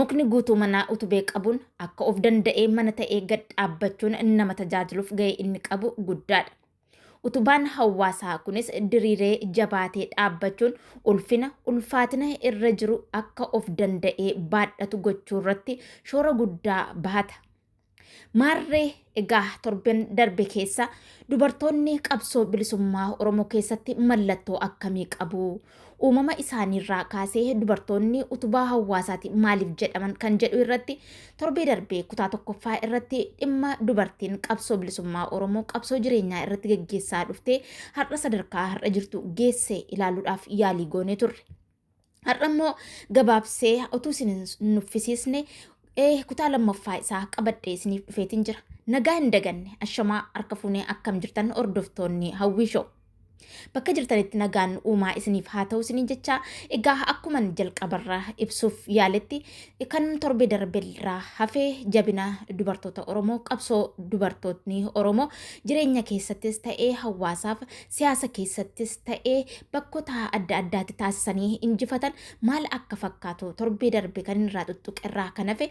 Mukni guutuu manaa utubee qabuun akka of danda'ee mana ta'ee gad dhaabbachuun nama tajaajiluuf ga'ee inni qabu guddaadha. Utubaan hawaasaa kunis diriiree jabaatee dhaabbachuun ulfina ulfaatina irra jiru akka of danda'ee baadhatu gochuu irratti shoora guddaa bahata. Maarree egaa torben darbe keessa dubartoonni qabsoo bilisummaa Oromoo keessatti mallattoo akkamii qabu? Uumama isaaniirraa kaasee dubartoonni utubaa hawaasaati maaliif jedhaman kan jedhu irratti torbee darbee kutaa tokkoffaa irratti dhimma dubartiin qabsoo bilisummaa Oromoo qabsoo jireenyaa irratti geggeessaa dhuftee har'a sadarkaa har'a jirtu geesse ilaaluudhaaf yaalii goonee turre. Har'a immoo gabaabsee utuu isin hin nuffisiisne eh, kutaa lammaffaa isaa qabadhee isiniif dhufeetiin jira. Nagaa hin daganne ashamaa harka fuunee akkam jirtan hordoftoonni hawwii shoo. Bakka jirtanitti nagaan uumaa isiniif haa ta'u isiniin jecha egaa akkuman jalqabarraa ibsuuf yaaletti kan torbee darbeerraa hafee jabina dubartoota Oromoo qabsoo dubartootni Oromoo jireenya keessattis ta'ee hawaasaaf siyaasa keessattis ta'ee bakkota adda addaatti taasisanii injifatan maal akka fakkaatu torbee darbe kan irraa xuxxuqerraa kan hafe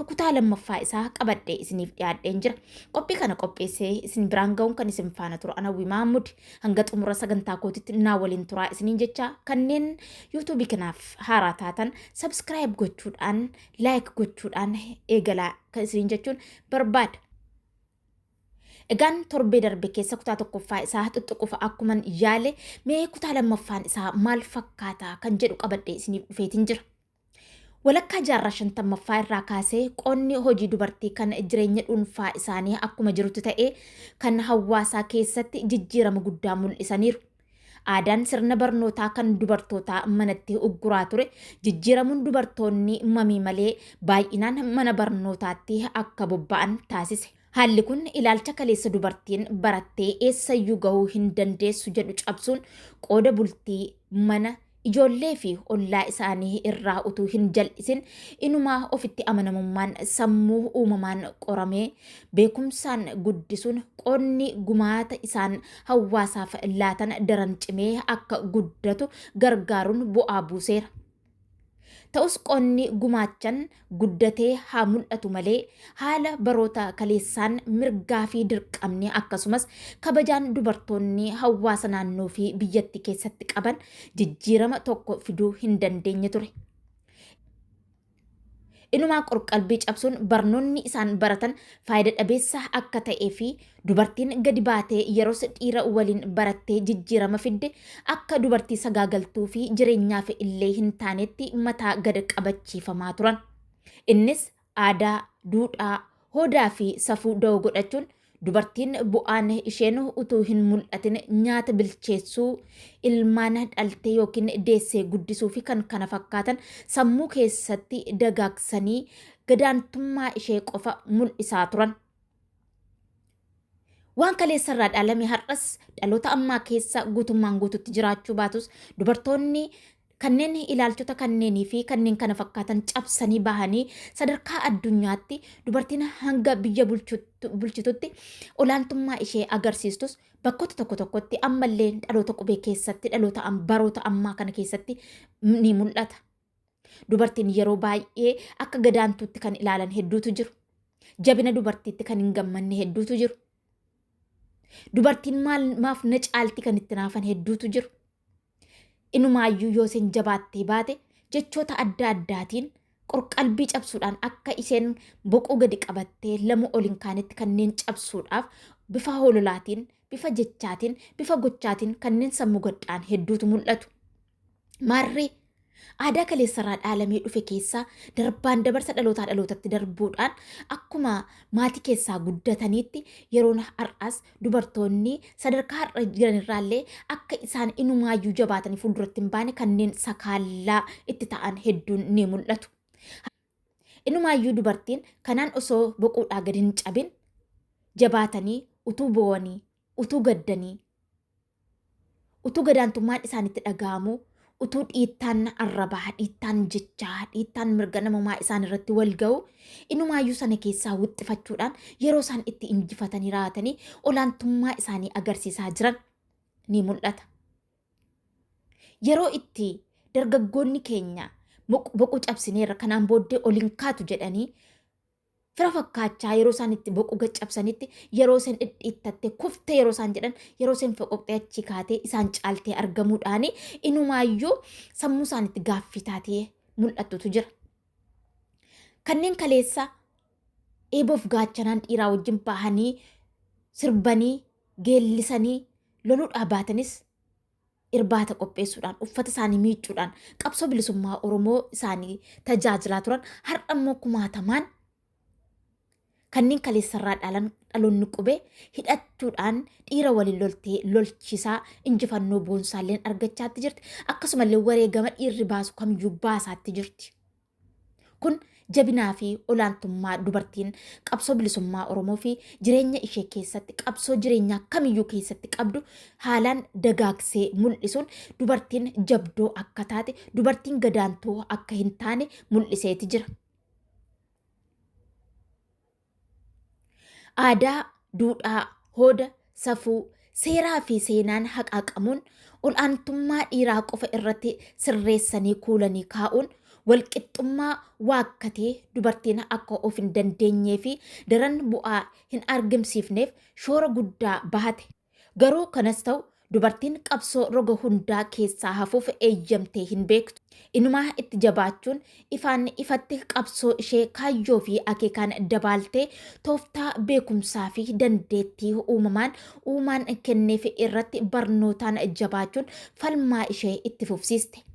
kutaa lammaffaa isaa qabadhee isiniif dhiyaadheen jira. Qophii kana qopheessee isin biraan ga'uun kan isin faana turu ana Hawwii Mahammud hanga xumura sagantaa kootitti naa waliin turaa isiniin jecha kanneen yuutuubii kanaaf haaraa taatan sabskiraayib gochuudhaan laayik gochuudhaan eegalaa kan isiniin jechuun barbaada. Egaan torbee darbe keessa kutaa tokkoffaa isaa xuxxuqufa akkuman yaale mee kutaa lammaffaan isaa maal fakkaata kan jedhu qabadhee isiniif dhufeetiin jira. Walakkaa jaarraa shantammaffaa irraa kaasee qonni hojii dubartii kan jireenya dhuunfaa isaanii akkuma jirutti ta'ee kan hawaasaa keessatti jijjiirama guddaa mul'isaniiru. Aadaan sirna barnootaa kan dubartootaa manatti ugguraa ture jijjiiramuun dubartoonni mamii malee baay'inaan mana barnootaatti akka bobba'an taasise. Haalli kun ilaalcha kaleessa dubartiin barattee eessayyuu gahuu hin dandeessu jedhu cabsuun qooda bultii mana Ijoollee fi ollaa isaanii irraa utuu hin jal'isin inumaa ofitti amanamummaan sammuu uumamaan qoramee beekumsaan guddisuun qoodni gumaata isaan hawaasaaf laatan daran cimee akka guddatu gargaaruun bu'aa buuseera. Ta'us qoodni gumaachan guddatee haa mul'atu malee haala baroota kaleessaan mirgaa fi dirqamni akkasumas kabajaan dubartoonni hawaasa naannoo fi biyyatti keessatti qaban jijjiirama tokko fiduu hin dandeenye ture. Inumaa qorqalbii cabsuun barnoonni isaan baratan faayida dhabeessa akka ta'ee fi Dubartiin gadi baatee yeros dhiira waliin barattee jijjiirama fidde akka dubartii sagaagaltuu fi jireenyaaf illee hin taanetti mataa gad qabachiifamaa turan. Innis aadaa, duudhaa, hoodaa fi safuu dawoo godhachuun dubartiin bu'aan isheen utuu hin mul'atin nyaata bilcheessuu, ilmaan dhaltee yookiin deessee guddisuu fi kan kana fakkaatan sammuu keessatti dagaagsanii gadaantummaa ishee qofa mul'isaa turan. Waan kaleessarraa dhaalame har'as dhaloota ammaa keessa guutummaan guututti jiraachuu baatus dubartoonni kanneen ilaalchota kanneenii fi kanneen kana fakkaatan cabsanii bahanii sadarkaa addunyaatti dubartiin hanga biyya bulchitutti olaantummaa ishee agarsiistus bakkoota tokko tokkotti ammallee dhaloota qubee keessatti dhaloota baroota ammaa kana keessatti ni mul'ata. Dubartiin yeroo baay'ee akka gadaantuutti kan ilaalan hedduutu jiru. Jabina dubartiitti kan hin gammanne hedduutu jiru. Dubartiin maal maaf na caalti kan itti naafan hedduutu jiru. Inumaayyuu yoo isheen jabaattee baate jechoota adda addaatiin qorqalbii cabsuudhaan akka isheen boquu gadi qabattee lamu ol hin kaanetti kanneen cabsuudhaaf bifa hololaatiin, bifa jechaatiin, bifa gochaatiin kanneen sammuu gadhaan hedduutu mul'atu. Maarree aadaa kaleessarraa dhaalamee dhufe keessaa darbaan dabarsa dhalootaa dhalootatti darbuudhaan akkuma maatii keessaa guddataniitti yeroon har'aas dubartoonni sadarkaa har'a jiran irraallee akka isaan inumaayyuu jabaatanii fuulduratti hin baane kanneen sakaallaa itti ta'an hedduun ni mul'atu. Inumaayyuu dubartiin kanaan osoo boquudhaa gadi hin cabin jabaatanii utuu boo'anii utuu gaddanii Utuu gadaantummaan isaanitti dhaga'amuu, utuu dhiittaan arrabaa, dhiittaan jechaa, dhiittaan mirga namumaa isaan irratti wal ga'u, inumaayyuu sana keessaa wixxifachuudhaan yeroo isaan itti injifatanii raatanii olaantummaa isaanii agarsiisaa jiran ni mul'ata. Yeroo itti dargaggoonni keenya boquu cabsineerra kanaan booddee ol hin kaatu jedhanii fira fakkaachaa yeroo isaan itti boquu gad cabsanitti yeroo isaan dhidhiittatte kuftee yeroo isaan jedhan yeroo isaan foqoqxee achi kaatee isaan caaltee argamuudhaani inumaayyuu sammuu isaan itti gaaffii taatee mul'attutu jira. Kanneen kaleessa eeboof gaachanaan dhiiraa wajjin bahanii sirbanii geellisanii loluudhaa baatanis irbaata qopheessuudhaan uffata isaanii miicuudhaan qabsoo bilisummaa Oromoo isaanii tajaajilaa turan har'a immoo kumaatamaan kanneen kaleessarraa dhalan dhaloonni qube hidhachuudhaan dhiira waliin loltee lolchisaa injifannoo boonsaalleen argachaatti jirti akkasumallee wareegama dhiirri baasu kamiyyuu baasaatti jirti. Kun jabinaa fi olaantummaa dubartiin qabsoo bilisummaa Oromoo fi jireenya ishee keessatti qabsoo jireenyaa kamiyyuu keessatti qabdu haalaan dagaagsee mul'isuun dubartiin jabdoo akka taate, dubartiin gadaantuu akka hin taane mul'iseeti jira. Aadaa, duudhaa, hooda, safuu, seeraa fi seenaan haqaaqamuun ol'aantummaa dhiiraa qofa irratti sirreessanii kuulanii kaa'uun walqixxummaa waakkatee dubartiin akka of hin dandeenyee fi daran bu'aa hin argamsiifneef shoora guddaa bahate. Garuu kanas ta'u dubartiin qabsoo roga hundaa keessaa hafuuf eeyyamtee hin beektu. Inumaa itti jabaachuun ifaan ifatti qabsoo ishee kaayyoo fi akeekaan dabaaltee tooftaa beekumsaa fi dandeettii uumamaan uumaan kenneef irratti barnootaan jabaachuun falmaa ishee itti fufsiiste.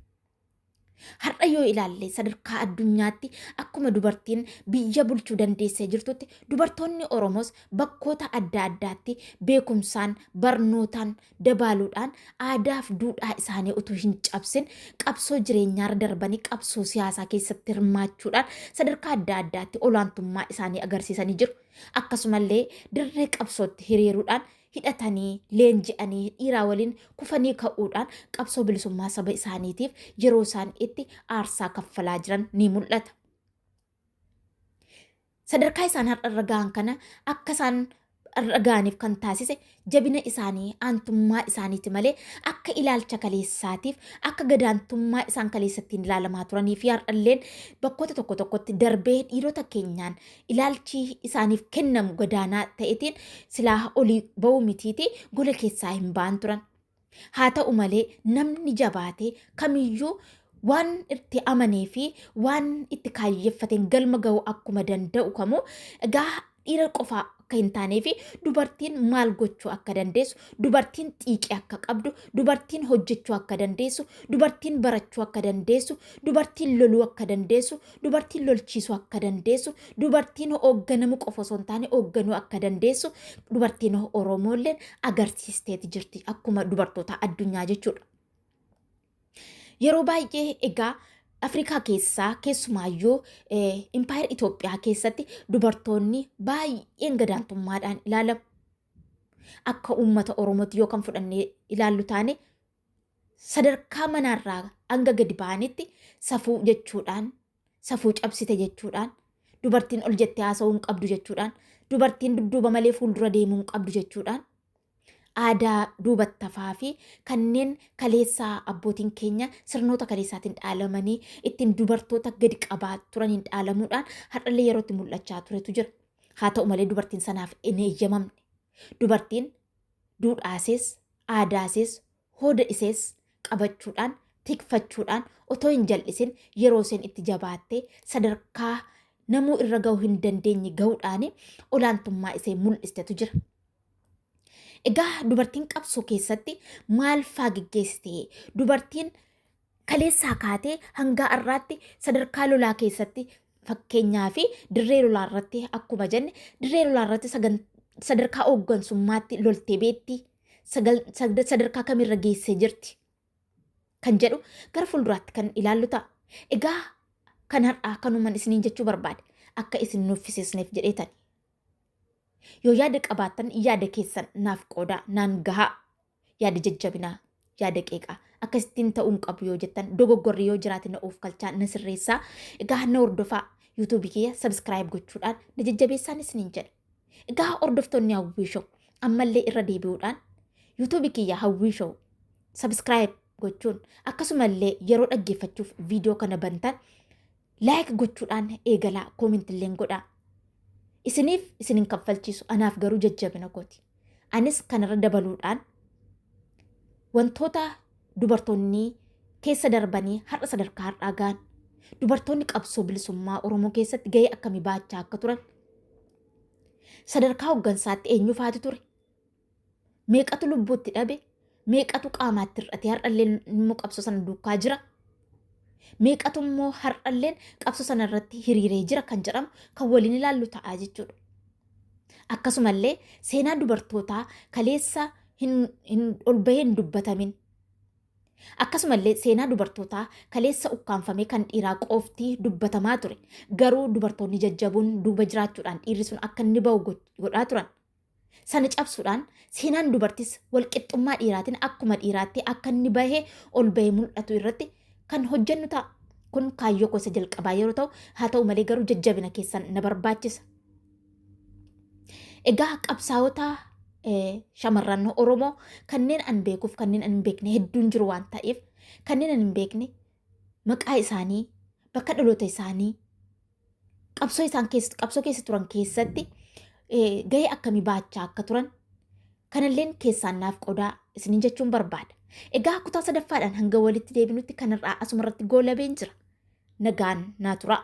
Har'a yoo ilaalle sadarkaa addunyaatti akkuma dubartiin biyya bulchuu dandeessee jirtutti dubartoonni Oromoos bakkoota adda addaatti beekumsaan barnootaan dabaaluudhaan aadaaf duudhaa isaanii utuu hin cabsin qabsoo jireenyaarra darbanii qabsoo siyaasaa keessatti hirmaachuudhaan sadarkaa adda addaatti olaantummaa isaanii agarsiisanii jiru. Akkasumallee dirree qabsootti hiriiruudhaan hidhatanii, leenji'anii, dhiiraa waliin kufanii ka'uudhaan qabsoo bilisummaa saba isaaniitiif yeroo isaan itti aarsaa kaffalaa jiran ni mul'ata. Sadarkaa isaan har'a irra ga'an kana akka isaan irra ga'aniif kan taasise jabina isaanii aantummaa isaaniiti malee akka ilaalcha kaleessaatiif akka gadaantummaa isaan kaleessattiin ilaalamaa turanii fi har'alleen bakkoota tokko tokkotti darbee dhiirota keenyaan ilaalchi isaaniif kennamu gadaanaa ta'etiin silaa olii ba'uu mitiiti gola keessaa hin ba'an turan. Haa ta'u malee namni jabaate kamiyyuu waan itti amanee fi waan itti kaayyeffateen galma ga'uu akkuma danda'u kamuu egaa dhiira qofaa akka hin taanee fi dubartiin maal gochuu akka dandeessu, dubartiin xiiqii akka qabdu, dubartiin hojjechuu akka dandeessu, dubartiin barachuu akka dandeessu, dubartiin loluu akka dandeessu, dubartiin lolchiisuu akka dandeessu, dubartiin hoogganamu qofa osoo hin taane hoogganuu akka dandeessu dubartiin Oromoolleen agarsiisteeti jirti akkuma dubartoota addunyaa jechuudha. Yeroo baay'ee egaa Afrikaa keessaa keessumaayyuu impaayera Itoophiyaa keessatti dubartoonni baay'een gadaantummaadhaan ilaalamu. Akka uummata Oromootti yoo kan fudhannee ilaallu taane sadarkaa manaarraa hanga gadi ba'anitti safuu jechuudhaan safuu cabsite jechuudhaan dubartiin ol jettee haasa'uu hin qabdu jechuudhaan dubartiin dudduuba malee fuuldura deemuu hin qabdu jechuudhaan aadaa duubattafaa fi kanneen kaleessaa abbootiin keenya sirnoota kaleessaatiin dhaalamanii ittiin dubartoota gadi qabaa turaniin dhaalamuudhaan har'allee yerootti mul'achaa turetu jira. Haa ta'u malee dubartiin sanaaf hin eeyyamamne. Dubartiin duudhaasees Aadaa isees, hooda isees qabachuudhaan, tikfachuudhaan otoo hin jal'isin yeroo iseen itti jabaattee sadarkaa namuu irra ga'uu hin dandeenye ga'uudhaan olaantummaa isee mul'istetu jira. Egaa dubartiin qabsoo keessatti maal faa geggeessite? Dubartiin kaleessaa kaatee hangaa har'aatti sadarkaa lolaa keessatti fakkeenyaa fi dirree lolaa irratti akkuma jenne dirree lolaa irratti sagan- sadarkaa hooggansummaatti loltee beetti sagal- sagda- sadarkaa kamirra geessee jirti kan jedhu gara fuulduraatti kan ilaallu ta'a. Egaa kan har'aa kanuman isiniin jechuu barbaade akka isin nuffisiisneef jedheetani. Yoo yaada qabaattan yaada keessan naaf qoodaa naan gahaa. Yaada jajjabinaa, yaada qeeqaa. Akkasittiin ta'uu hin qabu yoo jettan dogoggorri yoo jiraate na oofkalchaa na sirreessaa. Egaa na hordofaa YouTube kiyya subscribe gochuudhaan na jajjabeessaan isiniin jedha. Egaa hordoftoonni Hawwii Show ammallee irra deebi'uudhaan YouTube kiyya Hawwii Show subscribe gochuun akkasumallee yeroo dhaggeeffachuuf viidiyoo kana bantan Like gochuudhaan eegalaa comment illeen godhaa. Isiniif isin hin kaffalchiisu anaaf garuu jajjabina kooti. Anis kanarra dabaluudhaan wantoota dubartoonni keessa darbanii har'a sadarkaa har'aa ga'an dubartoonni qabsoo bilisummaa Oromoo keessatti gahee akkamii baachaa akka turan sadarkaa hooggansaatti eenyufaati ture meeqatu lubbuutti dhabe meeqatu qaamaatti hir'ate har'alleen immoo qabsoo sana duukaa jira meeqatu immoo har'alleen qabsoo sana irratti hiriiree jira kan jedhamu kan waliin ilaallu ta'a jechuudha. Akkasumallee seenaa dubartootaa kaleessa hin hin ol bahee hin dubbatamin akkasumallee seenaa dubartootaa kaleessa ukkaanfamee kan dhiiraa qofti dubbatamaa ture garuu dubartoonni jajjaboon duuba jiraachuudhaan dhiirri sun akka inni bahu godhaa turan Sana cabsuudhaan seenaan dubartis walqixxummaa dhiiraatiin akkuma dhiiraatti akka inni bahee ol bahee mul'atu irratti kan hojjennu ta'a. Kun kaayyoo koo isa jalqabaa yeroo ta'u, haa ta'u malee garuu jajjabina keessan na barbaachisa. Egaa qabsaa'ota eh, shamarran Oromoo kanneen an beekuuf kanneen an hin beekne hedduun jiru waan ta'eef kanneen an hin beekne maqaa isaanii, bakka dhaloota isaanii, qabsoo isaan keessa qabsoo keessa turan keessatti eh, gahee akkamii baachaa akka turan kanalleen keessaan naaf qodaa isinin jechuun barbaada. Egaa kutaa sadaffaadhaan hanga walitti deebinutti kanarraa asumarratti goolabeen jira. Nagaan naa turaa.